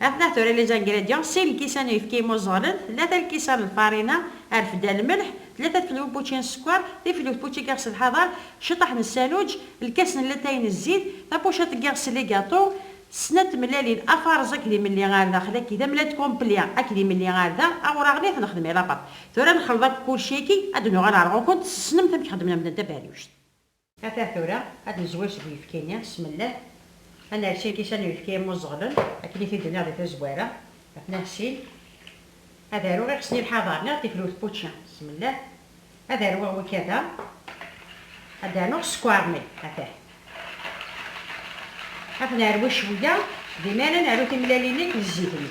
Atnah tura les ingrédients, sin lkisan n uyefki imuẓẓalen, tlata lkisan n lfarina, rfda n lmelḥ, tlata tfelwi n wučči n sskeṛ, tiflewt n wučči n yiɣes n lḥaḍer, ciṭṭaḥ n ssanuǧ, lkas n latay n zzit, tapuciṭ n yiɣes n ligaṭu, snat tmellalin, afarẓ akked imelli ar daxel akki, tamellalt complet akked imelli ar da, awraɣ-nni ad t-nexdem i lapaṭ. Tura ad nexleḍ akk kulci-agi, ad d-nuɣal ar ɣur-kunt, tessnemt amek xeddmen medden taberriwct. Ata tura ad d-nezwir seg uyefki-nni s tmellat, ad nersi lkisan n uyefki immuẓeɣlen, akken i t-id-nniɣ di tazwara, ad t-nahsil, ad aruɣ iɣes n ilḥaḍer neɣ tikrut pučči s tmellat, ad arweɣ wikada, ad d-rnuɣ sskeṛ-nni, atah. Ad t-nerwi cwiya, dima ara naru timlalin-nni akken zzit-nni.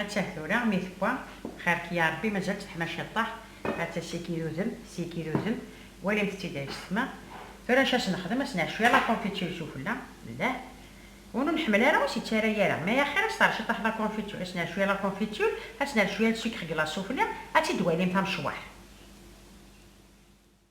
Atta tura mi tewwa, xirk ya Rebbi mazal teḥmaca ṭṭaḥ, atta sikin d udem, sikin d udem, walimt-tt-id ay ttefma, tura acu as-nexdem, as-nɛeccu yal aconfiture i sufella, llah, win ur nḥemmel ara ur s-ittara yara, mais axir asteṛci ṭṭaḥ d aconfiture, as-nɛeccu yal aconfiture, as-nɛeccu yal sucre glace sufella, ad tt-id-twalimt amecwaḥ.